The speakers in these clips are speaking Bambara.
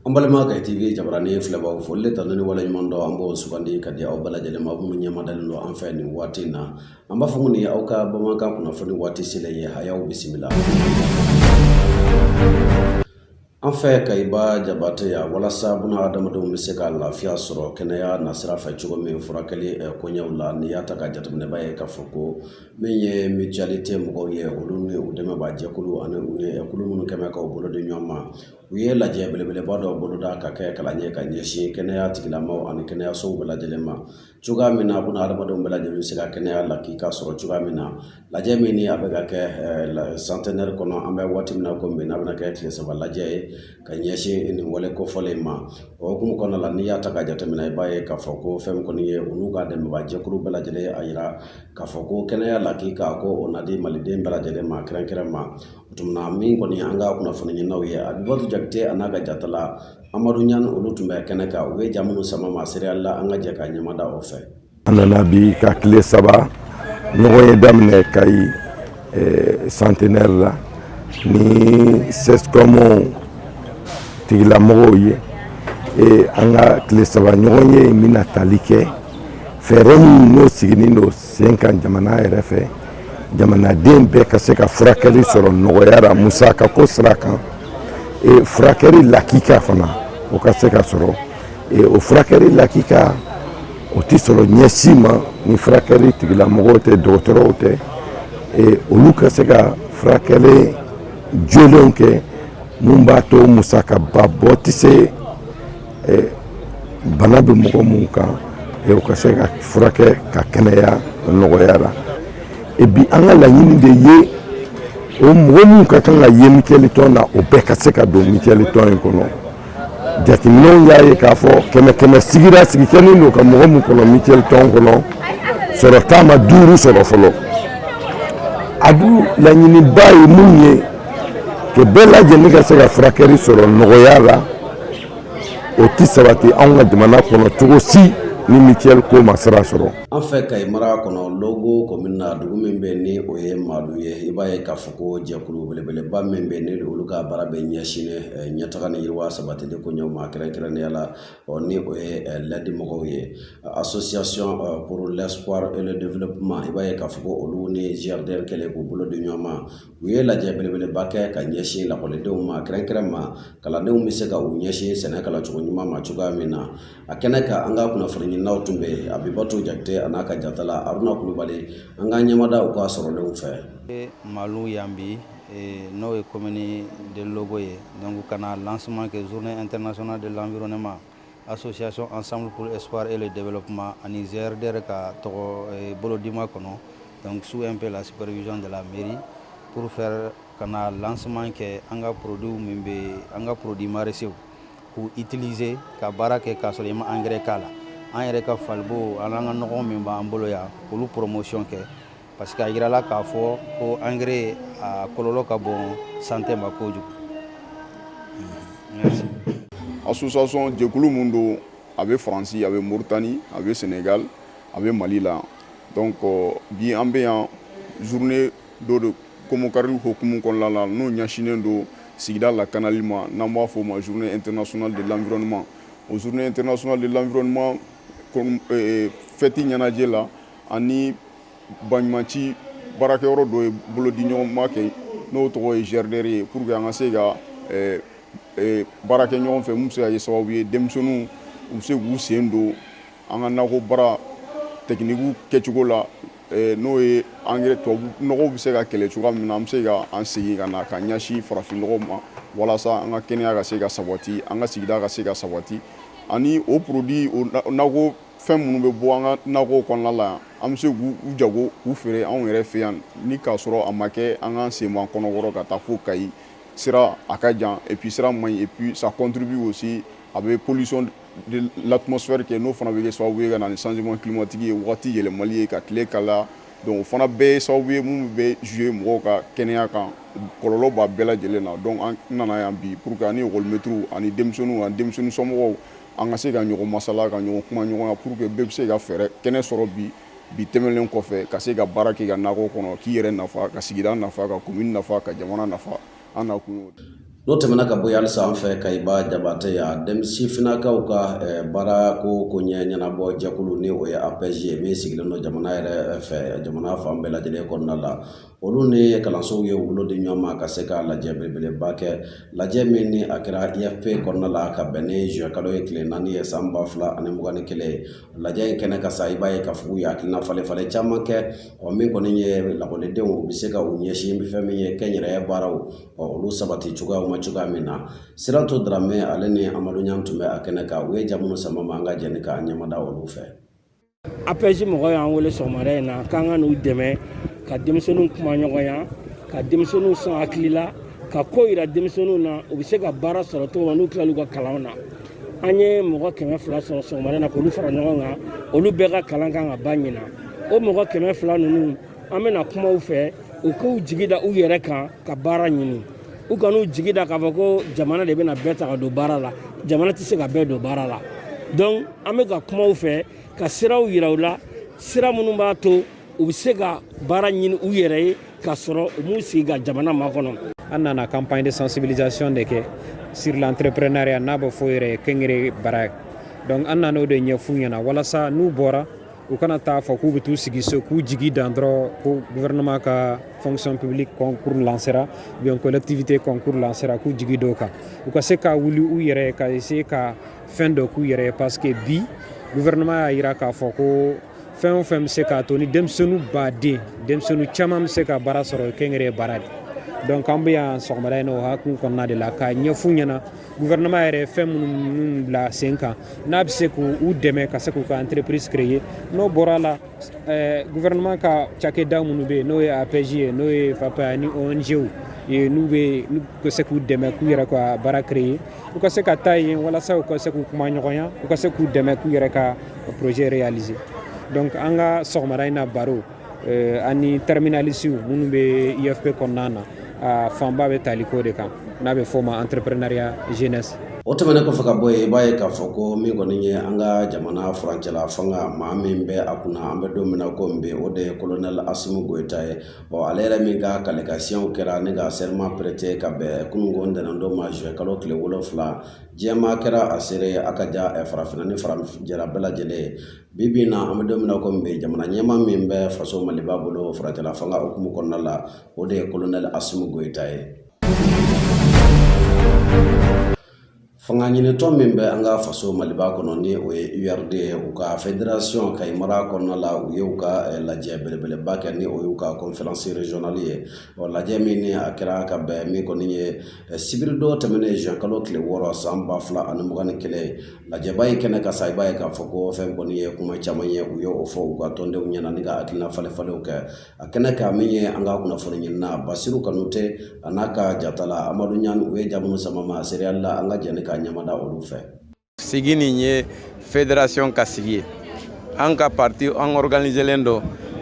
An balima Kayi TV jabarani filɛbaw foli ni tanuni waleɲuman dɔn an b'o sugandi ka di aw bɛɛ lajɛlen ma minnu ɲɛmadalen don an fɛ nin waati in na an b'a fɔ ko nin aw ka bamanankan kunnafoni waati selen ye a y'aw bisimila An fɛ Kayiba Jabate yan walasa buna adamadenw bɛ se ka lafiya sɔrɔ kɛnɛya nasira fɛ cogo min furakɛli koɲɛw la n'i y'a ta k'a jateminɛ i b'a ye k'a fɔ ko min ye mutualité mɔgɔw ye olu ni u dɛmɛnbaa jɛkulu ani u ni kulu minnu kɛlen k'u bolo di ɲɔgɔn ma u ye lajɛ belebeleba dɔ boloda ka kɛ kalan ye ka ɲɛsin kɛnɛya tigilamɔgɔw ani kɛnɛyasow bɛɛ lajɛlen ma cogoya min na buna adamadenw bɛɛ lajɛlen bɛ se ka kɛnɛya lakika sɔrɔ cogoya min na lajɛ min ni a bɛ ka kɛ kɔni an bɛ waati min na komi bi n'a bɛna kɛ tile saba lajɛ ye ka ɲɛsin nin wale kofɔlen in ma o hukumu kɔnɔna la n'i y'a ta k'a jateminɛ i b'a ye k'a fɔ ko fɛn kɔni ye olu ka dɛmɛbaa jɛkulu bɛɛ lajɛlen ye a yira k'a fɔ ko kɛnɛya lakika ko o na di maliden bɛɛ lajɛlen ma kɛrɛnkɛrɛn ma tuma min kɔni an ka kunnafoni ɲininaw ye a bɛ jate a n'a ka jatala Amadu Ɲani olu tun bɛ kɛnɛ kan u ye ja minnu sama an ma seereya la an ka jɛ ka ɲɛmada o fɛ an nana bi ka tile saba ɲɔgɔn ye daminɛ Kayi eh, Centenaire la ni CSCOM tigilamɔgɔw ye eh, an ka tile saba ɲɔgɔn ye bɛna tali kɛ fɛɛrɛ minnu n'o sigilen don sen kan jamana yɛrɛ fɛ jamanaden bɛɛ ka se ka furakɛli sɔrɔ nɔgɔya la musaka ko sira kan e, furakɛli lakika fana o ka se ka sɔrɔ e, o furakɛli lakika o tɛ sɔrɔ ɲɛ si ma ni furakɛli tigilamɔgɔw tɛ dɔgɔtɔrɔw tɛ e, olu ka se ka furakɛli jolenw kɛ mun b'a to musakaba bɔ tɛ se bana bɛ mɔgɔ minnu kan u ka se ka furakɛ ka kɛnɛya nɔgɔya la e bi an ka laɲini de ye o mɔgɔ minnu ka kan ka ye mutuelle tɔn na o bɛɛ ka se ka don mutuelle tɔn in kɔnɔ jateminɛw y'a ye k'a fɔ kɛmɛ kɛmɛ sigira sigi kɛ don ka mɔgɔ min kɔnɔ mutuelle tɔn kɔnɔ sɔrɔ taama ma duuru sɔrɔ fɔlɔ a laɲiniba ye min ye ka bɛɛ lajɛlen ka se ka furakɛli sɔrɔ nɔgɔya la o tɛ sabati anw ka jamana kɔnɔ cogo si ni mutuelle ko ma sira sɔrɔ, an fɛ Kayi mara kɔnɔ Logo commune na dugu min bɛ yen ni o ye Maalu ye i b'a ye k'a fɔ ko jɛkulu belebeleba min bɛ yen ni olu ka baara bɛ ɲɛsinnen ɲɛtaga ni yiriwa sabatili koɲɛw ma kɛrɛnkɛrɛnnenya la ni o ye ladi mɔgɔw ye association pour l'espoir et le développement i b'a ye k'a fɔ ko olu ni GRDR kɛlen k'u bolo di ɲɔgɔn ma u ye lajɛ belebeleba kɛ ka ɲɛsin lakɔlidenw ma kɛrɛnkɛrɛn ma kalandenw bɛ se ka u ɲɛsin sɛnɛ kalan cogo ɲuman ma cogoya min na a kɛnɛ kan an ka kunnafoni ɲininaw tun bɛ yen abibatu jakite an'a ka jatala aruna kulubali an ka ɲɛmada u ka sɔrɔlenw fɛ malu yan bi n'o ye commune de logo ye donc ka na lancement kɛ journée internationale de l'environnement Association ensemble pour l'espoir et le développement ani GRDR ka tɔgɔ eh, bolodima kɔnɔ donc sous un peu la supervision de la mairie pour faire ka na lancement kɛ an ka produit min bɛ an ka produit maraîchers k'u utiliser ka baara kɛ k'a sɔrɔ i ma engrais k'a la an yɛrɛ ka falibo an'an ka nɔgɔ min b'an bolo yan k'olu promotion kɛ parce que a yirala k'a fɔ ko engrais a kɔlɔlɔ ka bon santé ma kojugu association jɛkulu mun don a bɛ faransi a bɛ moritani a bɛ senegal a bɛ mali la donc euh, bi an bɛ yan journée dɔ de komokari hukumu kɔnɔna la n'o ɲɛsinnen don sigida lakanali ma n'an b'a fɔ o ma journée internationale de l'environnement o journée internationale de l'environnement euh, fɛti ɲɛnajɛ la ani baɲumanci baarakɛyɔrɔ dɔ ye bolodiɲɔgɔnma kɛ n'o tɔgɔ ye GRDR ye pour que an ka se ka eh, eh, baara kɛ ɲɔgɔn fɛ min bɛ se ka kɛ sababu ye denmisɛnninw u bɛ se k'u sen don an ka nakɔ baara technique kɛcogo la eh, n'o ye engrais tubabu nɔgɔw bɛ se ka kɛlɛ cogoya min na an bɛ se ka an segin ka na ka ɲɛsin farafin nɔgɔ ma walasa an ka kɛnɛya ka se ka sabati an ka sigida ka se ka sabati ani o produit o nakɔ fɛn minnu bɛ bɔ an ka nakɔw kɔnɔna la yan an bɛ se k'u jago k'u feere anw yɛrɛ fɛ yan ni k'a sɔrɔ a ma kɛ an k'an sen bɔ an kɔnɔ kɔrɔ ka taa fo kayi sira a ka jan et puis sira man ɲi et puis ça contribue aussi a bɛ pollution de l'atmosphère kɛ n'o fana bɛ kɛ sababu ye ka na ni changement climatique ye wagati yɛlɛmali ye ka tile kalaya donc o fana bɛɛ ye sababu ye minnu bɛ jouer mɔgɔw ka kɛnɛya kan kɔlɔlɔ b'a bɛɛ lajɛlen na donc an nana yan bi pour que ani école maîtres ani denmisɛnninw ani denmisɛnninw somɔgɔw an ka se ka ɲɔgɔn masala ka ɲɔgɔn kumaɲɔgɔnya pour que bɛɛ bɛ se ka fɛɛrɛ kɛnɛ sɔrɔ bi bi tɛmɛnlen kɔfɛ ka se ka baara kɛ ka nakɔ kɔnɔ k'i yɛrɛ nafa ka sigida nafa ka commune nafa ka jamana nafa an nakun y'o ye n'o tɛmɛna ka bɔ yen halisa an fɛ kayiba jabatɛ yan denmisɛn funankɛw ka baarako koɲɛ ɲɛnabɔ jɛkulu ni o ye APEJ ye min sigilen don jamana yɛrɛ fɛ jamana fan bɛɛ lajɛlen kɔnɔna la olu ni kalansow ye u bolo di ɲɔgɔn ma ka se ka lajɛ belebeleba kɛ lajɛ min ni a kɛra IFP kɔnɔna la ka bɛn ni zuwɛn kalo ye tile naani ye san ba fila ani mugan ni kelen ye lajɛ in kɛnɛ kan sa i b'a ye k'a fɔ u ye hakilina falen falen caman kɛ ɔ min kɔni ye lakɔlidenw u bɛ se ka u ɲɛsin fɛn min ye kɛnyɛrɛye baaraw ɔ olu sabati cogoyaw ma cogoya min na Sirantu Darame ale ni Amadu Ɲan tun bɛ a kɛnɛ kan u ye ja minnu sama an ma an ka jɛ ni k'an ɲɛmada olu fɛ APEJ mɔgɔ y'an wele sɔgɔmada in na k'an ka n'u dɛmɛ ka denmisɛnninw kuma ɲɔgɔnya ka denmisɛnninw sɔn hakili la ka ko yira denmisɛnninw na u bɛ se ka baara sɔrɔ cogo min n'u tilal'u ka kalanw na an ye mɔgɔ kɛmɛ fila sɔrɔ sɔgɔmada na k'olu fara ɲɔgɔn kan olu bɛɛ ka kalan kan ka ban ɲinan o mɔgɔ kɛmɛ fila ninnu an bɛna kuma u fɛ u k'u jigi da u yɛrɛ kan ka baara ɲini u kan'u jigi da k'a fɔ ko jamana de bɛna bɛɛ ta ka don baara la jamana tɛ se ka bɛɛ don baara la donc an bɛ ka kuma u fɛ ka siraw yira u la sira minnu b'a to u bɛ se ka baara ɲini u yɛrɛ ye k'a sɔrɔ u m'u sigi ka jamana makɔnɔ an nana campagne de sensibilisation de kɛ sur l'entrepreneuriat n'a bɛ fɔ o yɛrɛ ye kɛnyɛrɛye baara ye donc an nana o de ɲɛf'u ɲɛna walasa n'u bɔra u kana taa fɔ k'u bɛ t'u sigi so k'u jigi da dɔrɔn ko gouvernement ka fonction publique concours lancera ou bien collectivité concours lancera k'u jigi da o kan u ka se ka wuli u yɛrɛ ka essayer ka fɛn dɔ k'u yɛrɛ ye parce que bi gouvernement y'a yira k'a fɔ ko fɛn o fɛn bɛ se k'a to ni denmisɛnninw baden denmisɛnninw caman bɛ se ka baara sɔrɔ kɛnyɛrɛye baara de donc an bɛ yan sɔgɔmada in na o hukumu kɔnɔna de la k'a ɲɛf'u ɲɛna gouvernement yɛrɛ fɛn minnu bila sen kan n'a bɛ se k'u dɛmɛ ka se k'u ka entreprise créer n'o bɔra la eh, gouvernement ka cakɛda minnu bɛ yen n'o ye APEJ ye n'o ye FAFPA ani ONG-w n'u bɛ se k'u dɛmɛ k'u yɛrɛ ka baara créer u ka se ka taa yen walasa u ka se k'u kuma ɲɔgɔnya u ka se k'u dɛmɛ k'u yɛrɛ ka projet réaliser donc an ka sɔgɔmada in na baro euh, ani terminalisiw minnu bɛ ifp kɔnɔna na a fanba bɛ tali k'o de kan n'a bɛ fɔ ma entrepreneuriat jeunesse o tɛmɛnen kɔfɛ ka bɔ yen i b'a ye k'a fɔ ko min kɔni ye an ka jamana furancɛla fanga maa min bɛ a kunna an bɛ don min na ko bi o de ye kolonɛli asimu goyita ye ale yɛrɛ min ka kali ka siɲɛw kɛra ni ka serment prêter ka bɛn kunun ntɛnɛn don ma zuwɛnkalo tile wolonfila diɲɛ maa kɛra a seere ye a ka ja farafinna ni farajɛla bɛɛ lajɛlen ye bi bi na an bɛ don min na ko bi jamana ɲɛmaa min bɛ faso maliba bolo furancɛla fanga hukumu kɔnɔna la o de ye kolonɛli asimu goyita ye Fanga ɲinitɔn min bɛ an ka faso maliba kɔnɔ ni o ye urd ye u ka federasiɔn kayi mara kɔnɔna la u ye u ka lajɛ belebeleba kɛ ni o y'u ka conférence régionale ye o lajɛ min ni a kɛra ka bɛn min kɔni ye sibiri don tɛmɛnen zuwɛnkalo tile wɔɔrɔ san ba fila ani mugan ni kelen lajɛba in kɛnɛ kan sa i b'a ye k'a fɔ ko fɛn kɔni ye kuma caman ye u ye o fɔ u ka tɔndenw ɲɛna ni ka hakilina falen falenw kɛ a kɛnɛ kan min ye an ka kunnafoni ɲinina basiru kanute a n'a ka jatala amadu ɲan u ye ja minnu sama an ma seereya la an ka jɛ ka ɲɛda olu fɛ sigi nin ye federasiɔn ka sigi ye an ka pati an ɔriganizelen don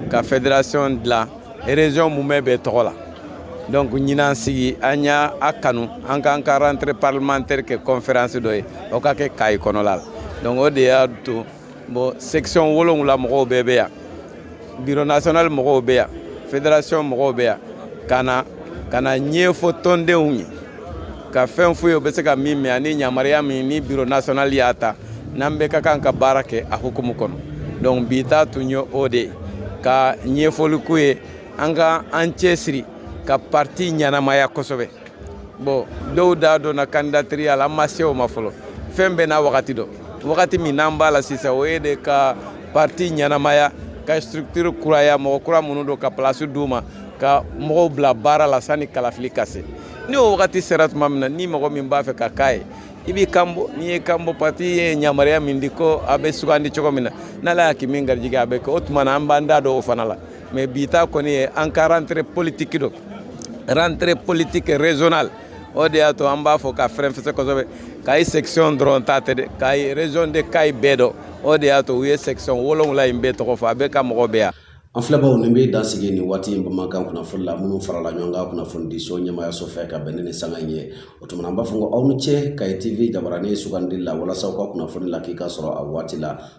ka federasiɔn dilan erezɔn mumɛ bɛɛ tɔgɔ la donc ɲinan sigi an y'a a kanu an k'an ka rentrée parlementaire kɛ conférence dɔ ye o ka kɛ kayi kɔnɔla la donc o de y'a to bon section wolonwula mɔgɔw bɛɛ bɛ yan biro national mɔgɔw bɛ yan federation mɔgɔw bɛ yan ka na ka n'a ɲɛfɔ tɔndenw ye ka fɛn f'u ye u bɛ se ka min mɛn ani yamaruya min ni biro national y'a ta n'an bɛɛ ka kan ka baara kɛ a hukumu kɔnɔ donc bi ta tun ye o de ye ka ɲɛfɔli k'u ye an ka an cɛsiri ka parti ɲɛnamaya kosɛbɛ bon dɔw da donna kandidatiriya la an ma se o ma fɔlɔ fɛn bɛɛ n'a wagati don wagati min n'an b'a la sisan o ye de ka parti ɲɛnamaya ka structure kuraya mɔgɔ kura minnu don ka place d'u ma ka mɔgɔw bila baara la sanni kalafili ka se ni o wagati sera tuma min na ni mɔgɔ min b'a fɛ ka k'a ye i b'i kan bɔ n'i y'i kan bɔ parti ye yamaruya min di ko a bɛ sugandi cogo min na n'ala y'a kɛ min garijigɛ a bɛ kɛ o tuma na an b'an da don o fana la mais bi ta kɔni ye an ka rentrée politique don rentrée politique régionale o de y'a to an b'a fɔ ka fɛrɛnfɛsɛ kosɛbɛ kayi section dɔrɔn ta tɛ dɛ kayi région de kayi bɛɛ don o de y'a to u ye section wolonwula in bɛɛ tɔgɔ fɔ a bɛɛ ka mɔgɔ bɛ yan an filɛbaaw nin bɛ dan sigi nin waati in bamanankan kunnafoni la minnu farala ɲɔgɔn kan kunnafonidiso ɲɛmaayaso fɛ ka bɛn ni nin sanga in ye o tuma na an b'a fɔ ko aw ni ce kayi tv jabaranin sugandili la walasa aw ka kunnafoni lakika sɔrɔ a waati la